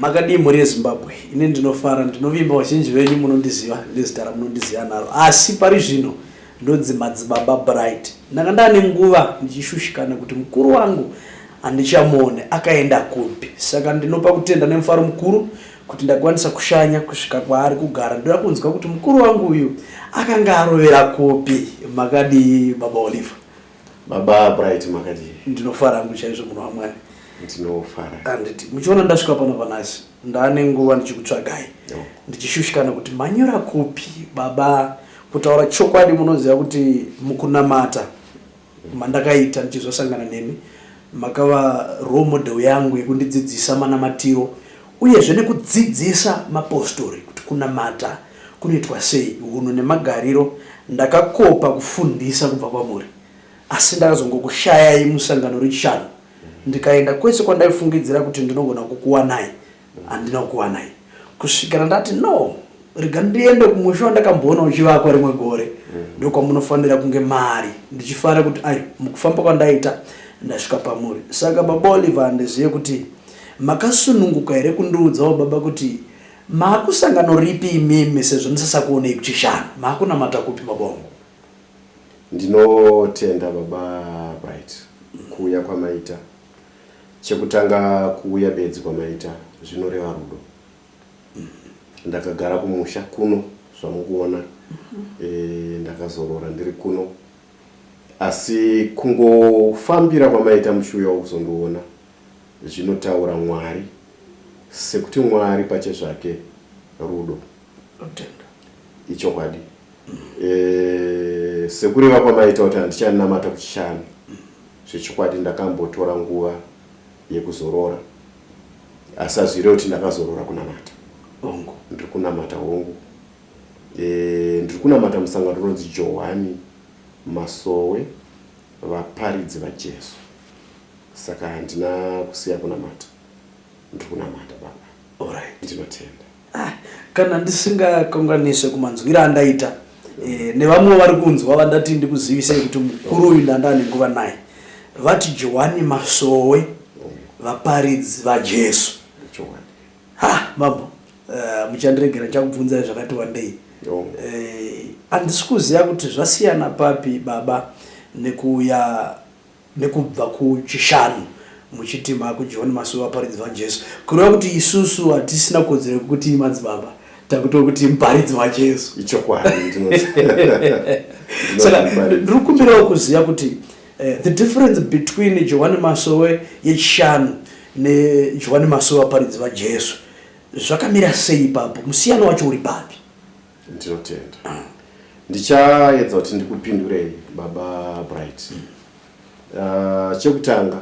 Makadii mhuri yeZimbabwe? Ini ndinofara, ndinovimba vazhinji venyu munondiziva nezita ramunondiziva naro, asi pari zvino ndonzi Madzibaba Bright. Ndanga ndane nguva ndichishushikana kuti mukuru wangu handichamuone akaenda kupi, saka ndinopa kutenda nemufaro mukuru kuti ndakwanisa kushanya kusvika kwaari kugara. Ndoda kunzwa kuti mukuru wangu uyu akanga arovera kupi. Makadii baba Oliver? Baba Bright makadii? Ndinofara hangu chaizvo munhu waMwari. Ndinofara. Handiti muchiona ndasvika pano panasi ndaane nguva ndichikutsvagai ndichishushikana kuti manyura kupi baba. Kutaura chokwadi munoziva kuti mukunamata mandakaita ndichizosangana nemi Makava role model yangu yekundidzidzisa manamatiro uyezve nekudzidzisa mapostori kuti kunamata kunoitwa sei, hunhu nemagariro ndakakopa kufundisa kubva kwamuri asi ndakazongokushayai musangano rechishanu ndikaenda kwese kwandaifungidzira kuti ndinogona kukuwanai Handina kukuwanai kusvikira ndati no rega ndiende kumusha wandakamboona uchivakwa rimwe gore mm. ndokwamunofanira kunge mari ndichifara kuti ai mukufamba kwandaita ndasvika pamuri saka baba oliver handizive kuti makasununguka here kundiudzawo baba kuti maakusangano ripi imimi sezvo ndisasakuonei kuchishanu maakunamata kupi baba wangu ndinotenda baba bright kuuya kwamaita Chekutanga kuuya bedzi kwamaita zvinoreva rudo. Ndakagara kumusha kuno zvamukuona e, ndakazorora ndiri kuno asi kungofambira kwamaita mushuya wokuzondiona zvinotaura mwari sekuti mwari pache zvake rudo ichokwadi e, sekureva kwamaita kuti handichanamata kuchishanu Zvechokwadi ndakambotora nguva yekuzorora asi hazvirevi kuti ndakazorora kunamata hongu ndiri kunamata hongu e, ndiri kunamata musangano unonzi johani masowe vaparidzi vajesu saka handina kusiya kunamata ndiri kunamata baba orit ndinotenda Ah, kana ndisingakanganise kumanzwira andaita eh, nevamwe vari kunzwa vandati ndikuzivisei kuti mukuru uyu ndanga ane nguva naye vati johani masowe vaparidzi vajesu Johani. ha mambo eh, muchandiregera ndichakubvunzai zvakati wandei Yo. Eh, handisi kuziva kuti zvasiyana papi baba nekuuya nekubva kuChishanu muchiti makuJohn Masowe vaparidzi vaJesu kureva kuti isusu hatisina kodzero yekuti madzibaba takuto kuti muparidzi waJesu ichokwadi saka ndiri kumbirawo kuziva kuti eh, the difference between Johani Masowe yeChishanu neJohani Masowe vaparidzi vaJesu zvakamira sei ipapo musiyano wacho uri papi ndinotenda ndichaedza kuti ndikupindurei baba bright uh, chekutanga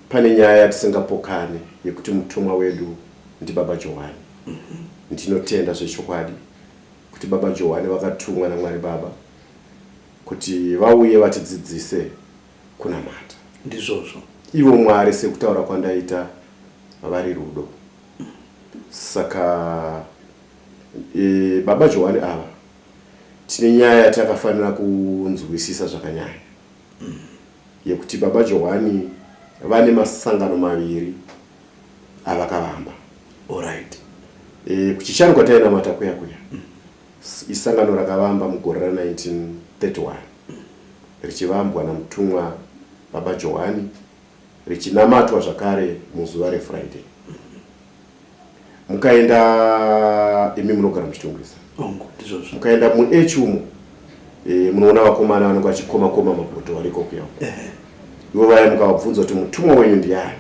pane nyaya yatisingapokane yekuti mutumwa wedu ndibaba johani mm-hmm. ndinotenda zvechokwadi kuti baba johani vakatumwa namwari baba kuti vauye vatidzidzise kunamata ndizvozvo ivo mwari sekutaura kwandaita vari rudo saka E, baba Johani ava tine nyaya yatakafanira kunzwisisa zvakanyanya mm. yekuti baba Johani vane masangano maviri avakavamba right. e, kuchichani kwatainamata kuya kuya mm. isangano rakavamba mugore ra 1931 richivambwa namutumwa baba Johani richinamatwa zvakare muzuva refriday mukaenda imi munogara muchitongwisa mukaenda muechi umo eh, munoona vakomana vanenge vachikoma koma mapoto variko kuyao ivo vaya mukavabvunza kuti mutumwa wenyu ndiani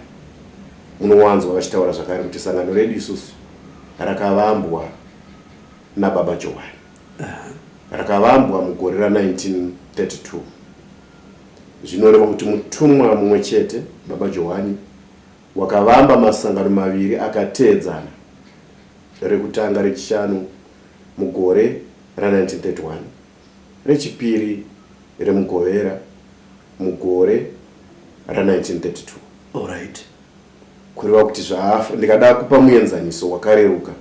munowanzwa vachitaura zvakare kuti sangano redu isusu rakavambwa nababa johani rakavambwa mugore ra 1932 Zvinoreva kuti mutumwa mumwe chete, Baba Johani, wakavamba masangano maviri akateedzana, rekutanga rechishanu mugore ra1931, rechipiri remugovera mugore ra1932. Alright. Kureva kuti zvaafa, ndikada kupa muenzaniso wakareruka,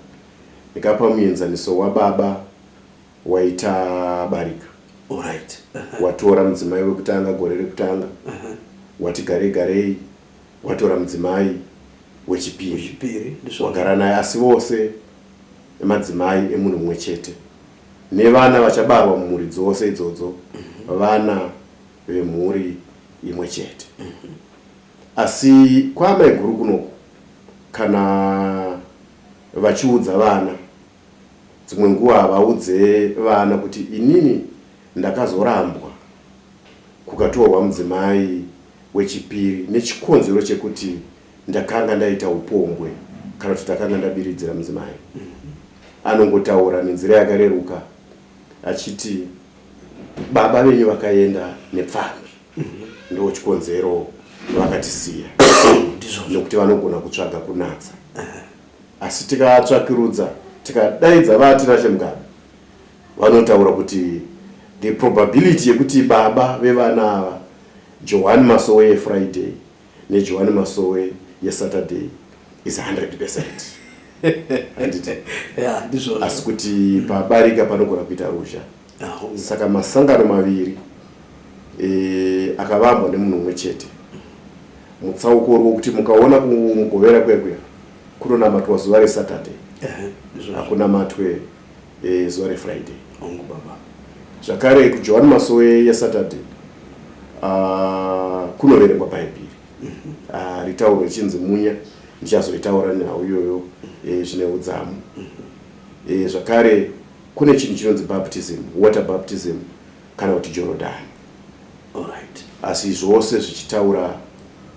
ndikapa muenzaniso waBaba waita barika Alright. watora mudzimai wekutanga gore rekutanga wati garei garei watora mudzimai wechipiri Chipiri ndisvo. wagara naye asi vose madzimai emunhu mumwe chete nevana vachabarwa mumhuri dzose idzodzo vana vemhuri imwe chete asi kwaamaiguru kunoku kana vachiudza vana Dzimwe nguva havaudze vana kuti inini ndakazorambwa kukatorwa mudzimai wechipiri nechikonzero chekuti ndakanga ndaita upombwe kana kuti ndakanga ndabiridzira mudzimai. Anongotaura nenzira yakareruka achiti baba venyu vakaenda nepfambi ndo chikonzero vakatisiya nekuti vanogona kutsvaga kunatsa. Asi tikaatsvakirudza tikadaidza VaTinashe Mugabe vanotaura kuti the probability yekuti baba vevana ava, Johwani Masowe yeFriday neJohwani Masowe yeSaturday is 100 percent. Handiti? Yeah, ndizvozvo. Asi kuti pabarika panogona kuita ruzha. Saka masangano maviri e, akavambwa nemunhu umwe chete. Mutsauko uri wokuti mukaona kumugovera kwekuya kunonamatwa zuva reSaturday, hakunamatwe e, zuva reFriday. Hongu baba. Zvakare kuJohani Masowe yeSaturday uh, kunoverengwa Bhaibheri mhm. ah, ritauro richinzi munya ndichazoitaura nhau iyoyo eh, zvine udzamu mhm. eh, zvakare Kune chinhu chinonzi baptism, water baptism kana kuti Jorodhani. Alright. Asi zvose zvichitaura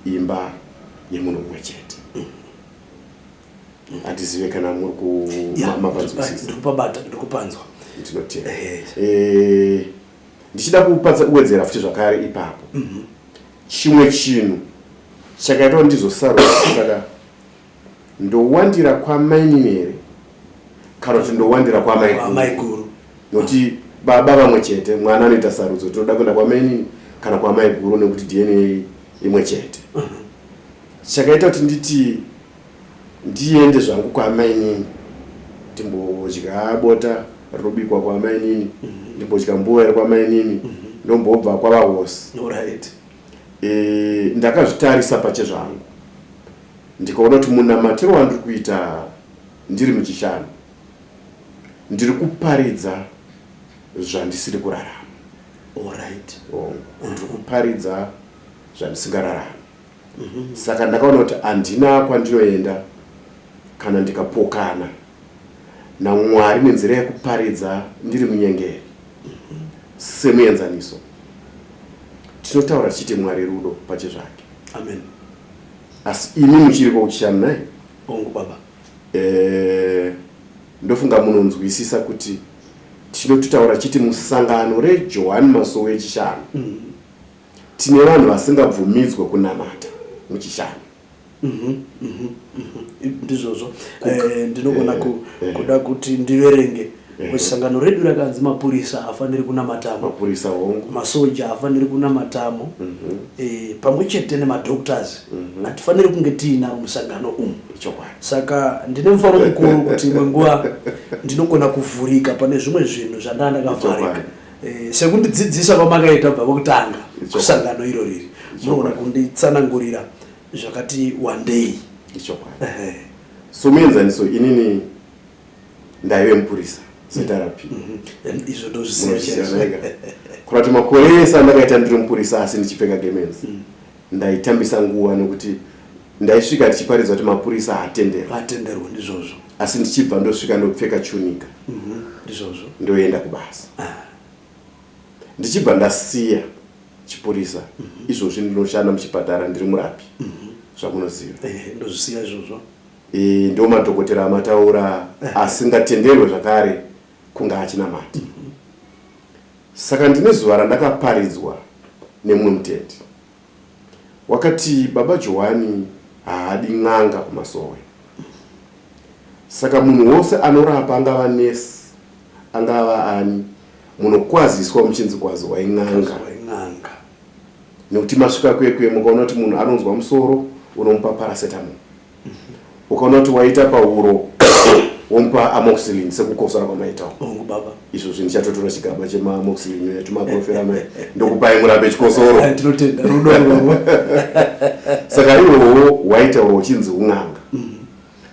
imba yemunhu mumwe chete. Handizive kana muri ku Yeah, ma- mapanzwisisa. ndikupabata ndikupanzwa ndinotenda Ehe. Eh, ndichida kupatsa kuwedzera futi zvakare ipapo chimwe chinhu chakaitwa ndizosarura saka ndowandira kwamainini here kana kuti ndowandira kwamaiguru nokuti baba vamwe chete mwana anoita sarudzo tinoda kuenda kwamainini kana kwamaiguru nekuti dna imwe chete mhm. chakaita kuti nditi ndiende zvangu kwamainini ndimbodya bota rinobikwa kwamainini mhm. ndimbodya mbuva iri kwamainini mhm. ndombobva kwavahosi e, ndakazvitarisa pachezvangu Ndikaona kuti munamatiro wandiri kuita ndiri muchishanu ndiri kuparidza zvandisiri kurarama orit oh, ndiri kuparidza zvandisingararama mhm. saka ndakaona kuti handina kwandinoenda kana ndikapokana namwari nenzira yekuparidza ndiri munyengeri mhm. semuenzaniso tinotaura tichiti mwari rudo pache zvake amen asi imi muchiri kwauchishanu nai hongu baba eh, ndofunga munonzwisisa kuti tinototaura chiti musangano rejohani masowe echishanu mm. tine vanhu vasingabvumidzwe kunamata muchishanu mhm, mhm, mhm. ndizvozvo eh, ndinogona eh, kuda kuti ndiverenge Eh. sangano redu rakanzi mapurisa hafaniri kunamatamo mapurisa hongu masoja hafaniri kunamatamo mm -hmm. e, eh, pamwe chete nemadoctors mhm. hatifaniri mm -hmm. kunge tiinaro musangano umu saka ndine mufaro mukuru kuti imwe nguva ndinogona kuvhurika pane zvimwe zvinhu zvandaa ndakavharika e, eh, sekundidzidzisa kwamakaita bva kwekutanga kusangano iro riri munogona kunditsanangurira zvakati wandei so muenzaniso inini ndaive mupurisa setarapi mm-hmm. izvo ndozvisiyazvaega kuva kuti makore ese andakaita ndiri mupurisa asi ndichipfeka gemenzi mm. ndaitambisa nguva nekuti ndaisvika tichiparidzwa kuti mapurisa haatenderwaatenderwa ndizvozvo asi ndichibva ndosvika ndopfeka chunika mm-hmm. ndizvozvo ndoenda kubasa ah. ndichibva ndasiya chipurisa mm-hmm. izvozvi ndinoshanda muchipatara ndiri murapi zvamunoziva eh, ndozvisiya izvozvo Iyi ndiwo madhokotera amataura asingatenderwe zvakare kunge achinamati. Saka ndine zuva randakaparidzwa nemumwe mutendi wakati baba Johani haadi n'anga kumasowe. Saka munhu wose anorapa angava nesi angava ani munokwaziswa muchinzi kwazwa in'anga nekuti masvika kwekwe mukaona kuti munhu anonzwa musoro unomupa paracetamol ukaona kuti waita pahuro womupa amoxilin sekukosora kwamaitawo hongu baba izvo zvinhu chatotora chigaba chemaamoxilin yatimaprofera mai ndokupai murambe chikosoro eh, tinotenda rudo saka iwowo waita uro uchinzi un'anga mhm.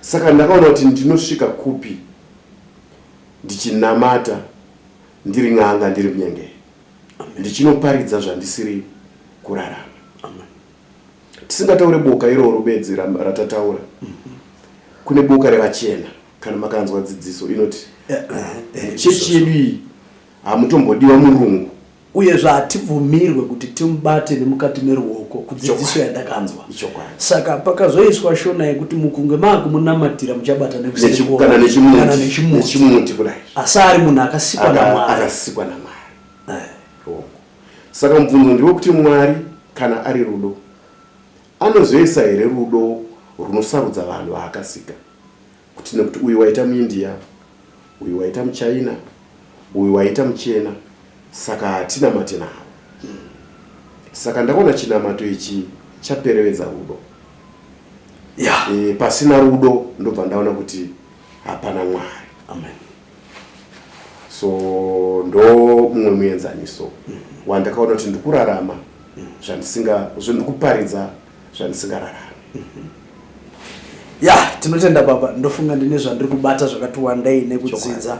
saka ndakaona kuti ndinosvika kupi ndichinamata ndiri n'anga ndiri munyengei ndichinoparidza zvandisiri kurarama tisingataure boka iroro bedzi ratataura kune boka revachena kana makanzwa dzidziso inoti eh, eh, eh, chechi yedu iyi hamutombodiwa murungu uyezve hatibvumirwe kuti timubate nemukati meruoko kudzidziso yandakanzwa saka pakazoiswa shona yekuti mukunge maakumunamatira muchabata nekusikana nechimuti kudai asi ari munhu akasikwa namwari Saka mubvunzo ndiwo kuti Mwari kana ari rudo anozoisa here rudo runosarudza vanhu vaakasika kuti nekuti uyu waita muindia uyu waita muchina uyu waita muchena saka hatinamate navo saka ndakaona chinamato ichi chaperevedza rudo yeah. e, pasina rudo ndobva ndaona kuti hapana mwari amen so ndo mumwe muenzaniso wandakaona kuti ndikurarama zvandisinga zvandikuparidza zvandisingararami ya tinotenda baba ndofunga ndine zvandiri kubata zvakati wandei nekudzidza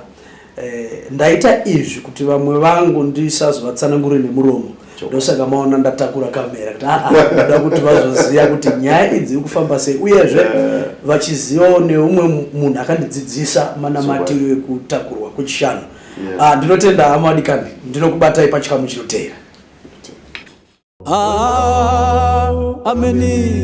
eh, ndaita izvi kuti vamwe vangu ndisazovatsanangure nemuromo ndosaka maona ndatakura kamera kuti ah, ah, ndoda kuti vazoziva kuti nyaya idzi iri kufamba sei uyezve eh. vachizivawo neumwe munhu akandidzidzisa manamatiro ekutakurwa kwechishanu ah, ndinotenda hama wadikani ndinokubatai pachikamu chinoteera ameni